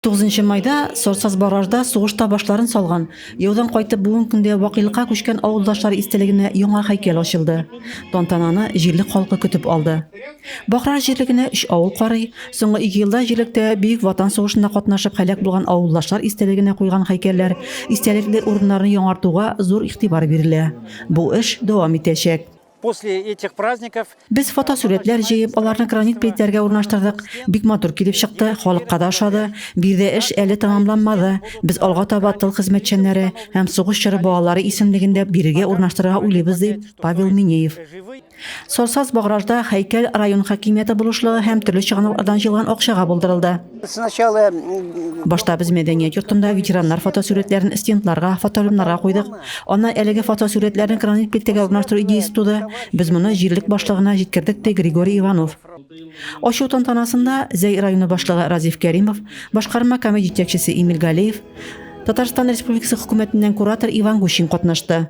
Тугызынчы майда Сорсаз Баражда сугышта башларын салган, яудан кайтып бүген көндә вакыйлыкка күчкән авылдашлар истәлегенә яңа һәйкәл ачылды. Тантананы җирлек халкы көтеп алды. Бахраж җирлегенә өч авыл карый, соңгы ике елда җирлектә Бөек Ватан сугышында катнашып һәлак булган авылдашлар истәлегенә куйган һәйкәлләр, истәлекле урыннарны яңартуга зур игътибар бирелә. Бу эш дәвам итәчәк. После этих праздников Без фотосурәтләр җыеп, аларны гранит плитләргә урнаштырдык. Бик матур килеп чыкты, халыкка да ошады. Биредә эш әле тәмамланмады. Без алга таба тыл хезмәтчәннәре һәм сугыш чоры балалары исемлеген дә бирегә урнаштырырга уйлыйбыз, ди Павел Минеев. Сорсаз-Багражда һәйкәл район хакимияте булышлыгы һәм төрле чыганаклардан җыелган акчага булдырылды. Сначала Башта без мәдәният йортында ветераннар фотосурәтләрен стендларга, фотолюмнарга куйдык. Аннан әлеге фотосурәтләрне гранит плитәгә урнаштыру идеясе туды. Без моны җирлек башлыгына җиткердек, ди Григорий Иванов. Ачу тантанасында Зәй районы башлыгы Разиф Кәримов, башкарма комит җитәкчесе Эмиль Галеев, Татарстан Республикасы Хөкүмәтеннән куратор Иван Гущин катнашты.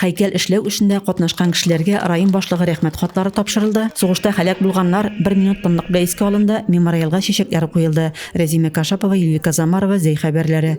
Һәйкәл эшләү эшендә катнашкан кешеләргә район башлыгы Рәхмәт хатлары тапшырылды, сугышта һәлак булганнар бер минут тынлык белән искә алынды, мемориалга чәчәкләр куелды. Рәзимә Кашапова, Юлика Замарова, Зәй хәбәрләре.